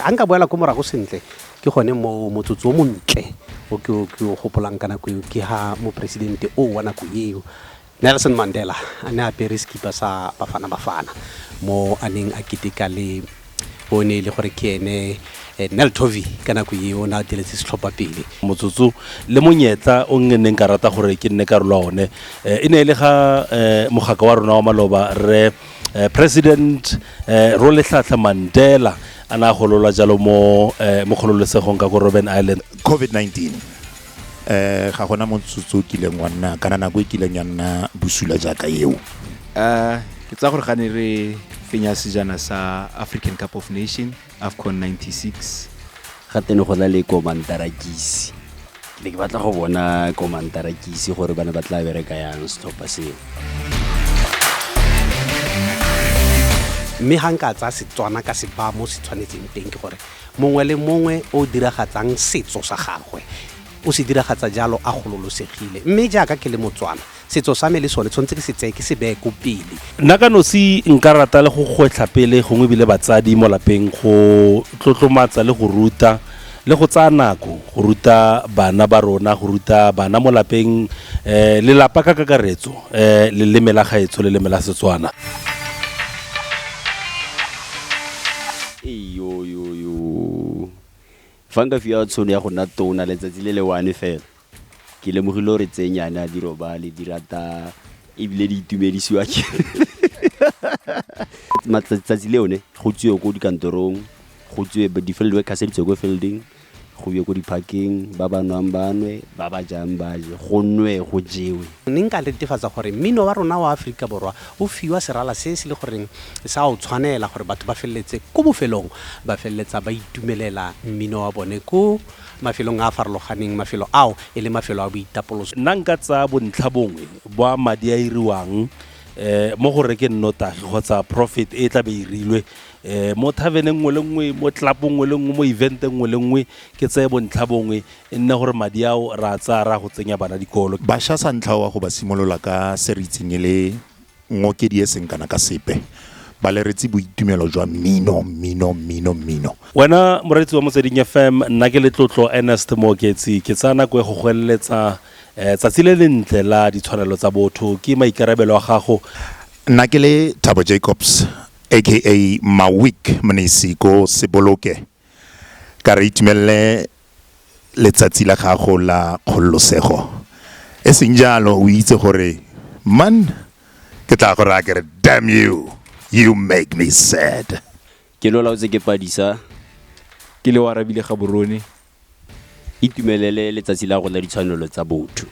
a nka boela ko morago sentle ke gone mo motsotso o montle o ke o gopolang ka nako eo ke ha moporesidente o wa nako eo Nelson Mandela a ne a apere sekipa sa Bafana Bafana mo a neng a keteka le o ne e le gore ke ene eh, Nel Tovi ka nako e o ne a diretse setlhopha pele motsotso le monyetla o nge neng ka rata gore ke nne karolo ya one Eh, e ne e le ga eh, mogaka wa rona wa maloba re eh, president eh, roletlhatlha mandela a ne a gololwa jalo mo eh, mo kgololesegong ka ko robben island COVID-19. um ga gona motsotso o kileng wa nna kana nako e kileng ya nna bosula jaaka eo um ke tsa gore gane re fenya sejana sa african cup of nation afcon 96 ga tene go na le komantarakisi ke ne ke batla go bona komantarakisi gore ba ne ba tla bereka yang setlhopha seo mme ga nka tsaya setswana ka se ba mo se tshwanetseng teng ke gore Mongwe le mongwe o o diragatsang setso sa gagwe o se diragatsa jalo a gololosegile. Mme jaaka ke le Motswana, setso sa me le sone tshwanetse ke se tseye ke se beye ko pele. Nna ka nosi nka rata le go gwetlha pele gongwe ebile batsadi mo lapeng go tlotlomatsa le go ruta le go tsaya nako go ruta bana ba rona, go ruta bana mo lapeng, lelapa ka kakaretso, leleme la gaetsho, leleme la Setswana. Eyoyoyo. Fa nka fiwa tshono ya go nna tona letsatsi le le one fela, ke lemogile gore tse nyane a di robale, di rata ebile di itumedisiwa ke matsatsi le one go tswiwe ko dikantorong, go tswiwe di-field workers di tswe ko fielding. Go bue ko diphakeng, ba ba nwang ba nwe, ba ba jang ba je, go nwe go jewe. Ne nka netefatsa gore mmino wa rona wa Aforika Borwa o fiwa serala se se le goreng sa o tshwanela gore batho ba feleletse ko bofelong ba feleletsa ba itumelela mmino wa bone ko mafelong a a farologaneng, mafelo ao e le mafelo a boitapoloso. Nna nka tsaya bontlhabongwe bwa madi a iriwang mo go rekeng nnotagi kgotsa profit e tlabe e irilwe, um mo thavene nngwe le nngwe, mo tlelapo nngwe le nngwe, mo event-e nngwe le nngwe, ke tseye bontlha bongwe, e nne gore madi ao re a tsaya re ya go tsenya bana dikolo. Bašwa sa ntlha wa go ba simolola ka se re itseng e le ngokedi e seng kana ka sepe, ba leretse boitumelo jwa mmino, mmino, mmino, mmino. Wena moreetsi wa Motsweding FM, nna ke Letlotlo Ernest Mooketsi, ke tsaya nako e go go eleletsa um tsatsi le lentle la ditshwanelo tsa botho. Ke maikarabelo a gago. Nna ke le Thabo Jacobs, aka Mawik Mnisi ko Seboloke, ka re itumelele letsatsi la gago la kgololosego. E seng jalo o itse gore man ke tla go raya ke re damn you, you make me sad. Ke lolaotse ke padisa. Ke le oarabile gaborone. Itumelele letsatsi la rona ditshwanelo tsa botho.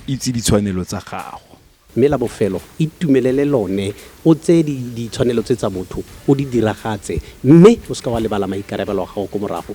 Itse ditshwanelo tsa gago. Mme la bofelo, itumelele lone, o tseye di, ditshwanelo tse tsa botho, o di diragatse, mme o seka wa lebala maikarabelo a gago ko morago.